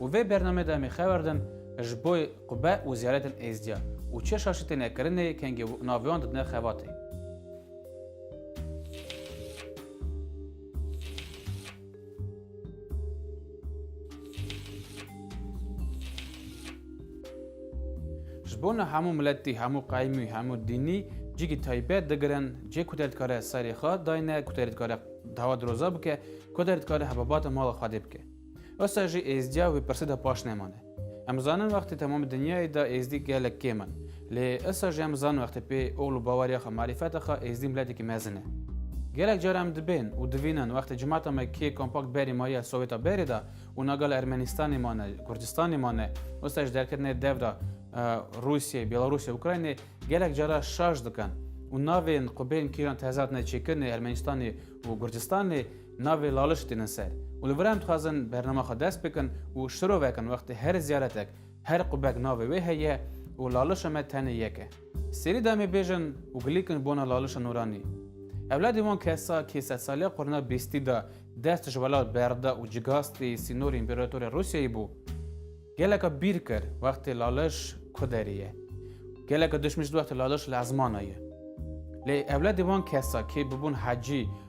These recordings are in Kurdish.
Û vê bername de em ê xewer din ji bo qube û ziyaretên êzdiya û çeşa şitê nekirinê kengê naviyan didine xebatê. Ji bona hemû miletî, hemû qeymî, hemû dînî cîgî taybet digirin. Cê ku te dikare serê xwe dayne, ku te dikare dava diroza bike, ku te dikare hebabata mala Xwedê bike. Wisa jî Êzdiya wî pirsî de paş nemane. Em zanin wextê temam dinyayê de Êzdî gelek kêm in. Lê wisa jî em zanin wextê pê oxl û baweriya xwe, marîfeta xwe Êzdî miletekî mezin e. Gelek car em dibên û divînin wextê cimata me kê kompakt berî mariya Sowêta berê de û na gala Ermenistanê mane, Kurdistanê mane, wisa jî derketinê dev de Rûsyê, Bêlarûsê, Ukraynê gelek cara şaş dikin û navên xwe bên kîjan tezat ne çêkirinê Ermenistanê û Kurdistanê Navê laliş têne ser û li vir em dixwazin bernama xwe dest bikin û şirovek in wextê her ziyaretek her qubek navê wê heye û laliş me tenê yek e. Serî da me bêjin û gilîkin bona laliş nûranî. Ewladê wan kesa kê sedsaliya qurna bîstî da dest ji welat berda û cigastî sînorê împeratorê Rûsyayê bû. Geleka bîr kir wextê laliş ku derê ye. Geleka dişmî jî wextê laliş li ezmana ye. Lê ewladê wan kesa kê bibûn hecî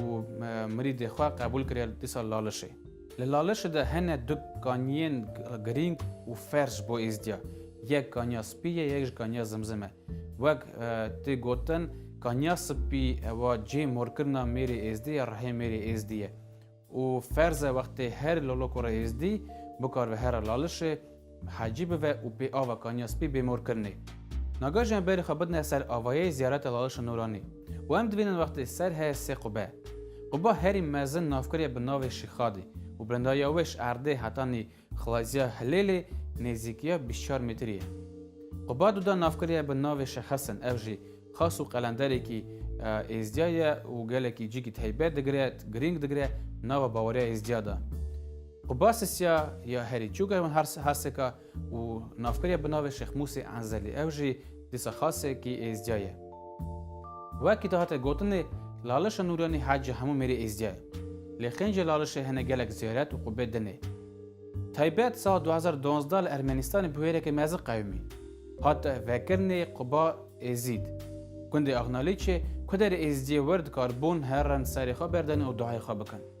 û mirîdê xwe qebûl kiriye li dîsa Lalişê. Li Lalişê de hene du kaniyên girîng û ferz ji bo Êzdiya. Yek kaniya spî ye, yek jî kaniya zimzim e. Wek tê gotin, kaniya spî ewa cihê morkirina mêrê Êzdî ya rihê mêrê Êzdî ye û ferz e wextê herî lolok û re Êzdî bikaribe here Lalişê, Hecî bive û pê ava Kaniya Spî bê mor kirine. Nagajiyan berê xwe bidine ser avayê ziyareta Laliş Nûranî û em dibînin wextê ser heye sê qube. Quba herî mezin navkirî ye bi navê Şîxadî û bilindariya wê ji erdê heta nî xlaziya Hilêlê nêzîkiya bîst çar metrî ye. Quba Duda navkirî ye bi navê Şexesin ev jî xas û qelenderekî Êzdîya ye û gelekî cîkî teybet digire, girîng digire nava baweriya Êzdîya de. Obasisiya ya herî çûk e Harseka û navkirya bi navê Şêx Mûsê Enzelî ew jî dîsa xasekî êzdya ye. Wekî dihate gotinê Lalişa Nûryanî hecê hemû mêrê êzdya ye. Lê xêncê Lalişê hene gelek zêret û qubê din ê. Taybet sala du hezar û duwazdeh li Ermenistanê bi wêrekê mezin qewimî. Hat vekirinê quba Êzîd. Gundê Axnalîçê ku derê êzdiyê wir dikarbûn herin serê xwe berdane û duayê xwe bikin.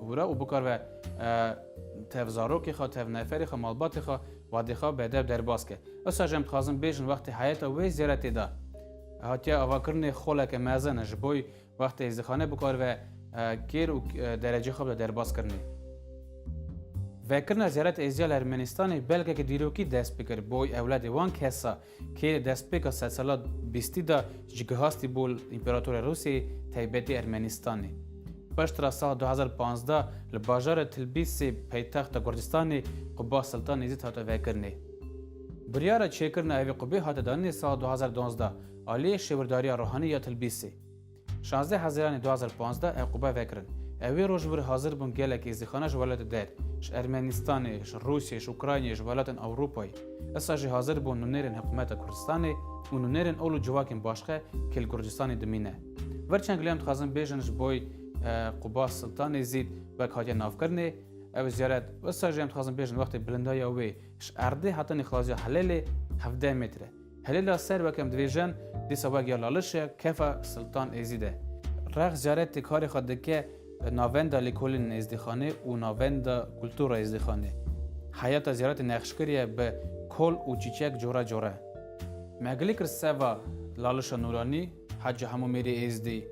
Hûra û bikar ve tev zarokê xwe, tev neferê xwe, malbatê xwe, wadê xwe bedew derbas ke. Wisa jî em dixwazin bêjin wextê heyeta wê zêretê de hatiye avakirinê xoleke mezin e ji bo wextê zixane bikar ve kêr û derecê xwe bide derbas kirinê. Vekirina zêret êzîya li Ermenistanê belgeke dîrokî dest bi kir bo ewladê wan kesa. Kê li destpêka sedsala bîstî de ji gihastî bû li Împeratorê Rûsyayê taybetî Ermenîstanê. Piştre sala du hezar û pazdeh li bajarê Tilbîsê paytexta Kurdistanê quba Siltan Nêzît hate vekirinê. Biryara çêkirina evê qubê hate danînê sala du hezar û duwazdeh aliyê Şêwirdariya Ruhanî ya Tilbîsê. Şazdeh Hezîranê du hezar û pazdeh ew qûbe vekirin. Ew wê roj wir hazir bûn gelek êzîxanan ji welatê der, ji Ermenîstanê, ji Rûsyê, ji Ukraynê, ji welatên Ewropayê. Issa jî hazir bûn nûnerên hikumeta Kurdistanê û nûnerên ol û civakên başxe ke li Kurdistanê dimîne. Vir çend lê em dixwazin bêjin ji boy Qûba Siltanê zîd wek hatiye navkirinê, ew ziyaret û issa jî em dixwazin bêjin wextê bilindaya wê ji erdê hatinê xaziya Helêlê hevdeh mêtre, Hilêla ser weke em divêjin, dîsa wek ya laliş e, kefa Siltan Êzîd e. Rex caret tê karê xwe dike navenda Lêkolên Êzdîxanê û navenda Kultura Êzdîxanê. Heyata ziyaretê nexşkirî ye bi kol û çîçek cora cora. Me gilî kir seva lalişa nûranî Hacî Hemo Mêrê Êzdî.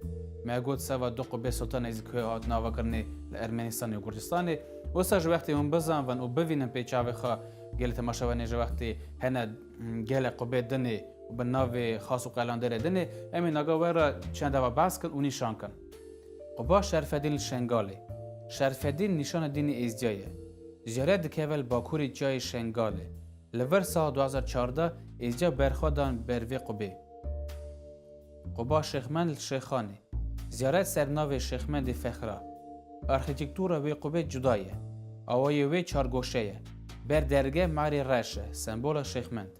Me got seva du qubê Siltan Êzîd ku hatin avakirinê li Ermenistanê û Kurdistanê. Wisa ji wextê hûn bizanvin û bivînin pê çavê xwe gelê temaşewenê ji wextê hene. Gelek xwe bê din ê û bi navê xas û qelandêrê din ê, em ê naga we re çend ava behs kin û nîşan kin. Quba Şerfedîn li Şengalê. Şerfedîn nîşana dînê Êzdya ye. Jêre dikeve li bakurê çiyayê Şengalê. Li vir sala du hezar û çardeh Êzdya berxwe dan ber vê qubê. Quba Şêxmend li Şêxanê. Ziyaret ser navê Şêxmendê Fexra. Arxîtîktûra wê qubê cuda ye. Awayê wê çargoşe ye. Ber derge marê reş e, sembola Şêxmend.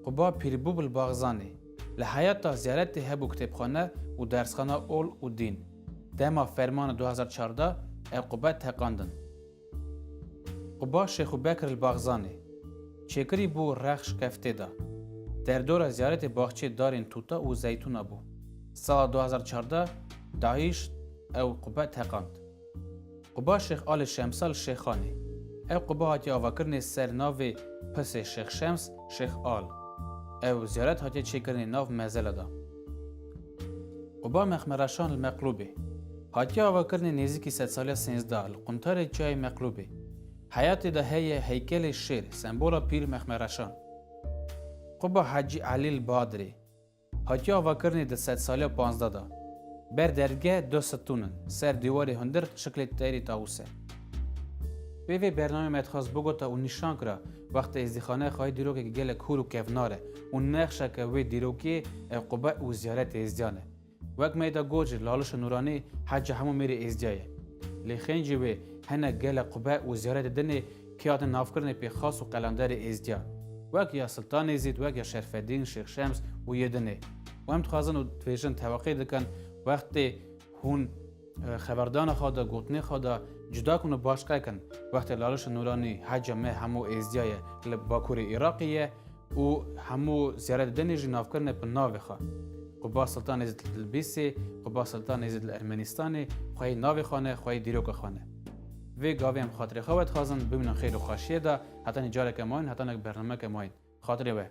Quba Pîrbûb li Baxzanê. Li heyata ziyaretê hebû kitêbxane û dersxana ol û dîn. Dema fermana du hezar çardeh ev qube teqandin. Quba Şêxu Bekr li Baxzanê çêkirî bû Rexş Keftê de derdora ziyaretê baxçeyê darên tûta û zeytûna bû. Sala du hezar û çardeh DAIŞ ew qube teqand. Quba Şêx Alê Şemsa li Şêxanê. Ew quba hatiye avakirinê ser navê Pisê Şêx Şems Şêx Al. Ew ziyaret hatiye çêkirinê nav mezele de. û ba mexmereşan li Meqlûbê. Hatiye avakirinê nêzîkî sedsaliya sêzdeh li quntarê çiyayê Meqlûbê. Heyatê de heye heykelê şêr, sembola pîr mexmereşan. Quba Hacî Elî li Badirê. Hatiye avakirinê di sedsaliya panzdeh de. Ber dergê du sitûn in, ser dîwarê hundir şiklê teyrê tawus e. Pê vê bernameyê me dixwest bigota û nîşan kira, Wextê Êzdîxaneyê xwayî dîrokek gelek hûr û kevnar e û nexşeke wê dîrokê ew qube û ziyaretê Êzdiyan e. Wek Meyda Gocir, Lalişa Nûranî heca hemû mêrê Êzdiya ye. Lê xêncî wê hinek gelek qube û ziyaretê din ê kê hatin navkirinê pê xas û qelenderê Êzdiyan. Wek ya Siltanê Zîd, wek ya Şerfedîn, Şêx Şems û yê din ê. Û em dixwazin û dibêjin teweqî dikin wextê. Hûn xeberdana xwe de, gotinê xwe de cuda kin û baş qe kin. Wextê Lalişa Nûranî heca me hemû êzdîya ye li bakurê Îraqê ye û hemû ziyare didenê jî navkirine bi navê xwe. Qubas Siltan Êzid li Tilbîsê, Qubas Siltan Êzid li Ermenîstanê, xwe yê navê xwe ne, xwe yê dîroka xwe ne. Vê gavê em xatirê xwe vedixwazin, bimînin xêr û xweşiyê de, heta nî careke mayîn, heta ne bernameke mayîn. Xatirê we.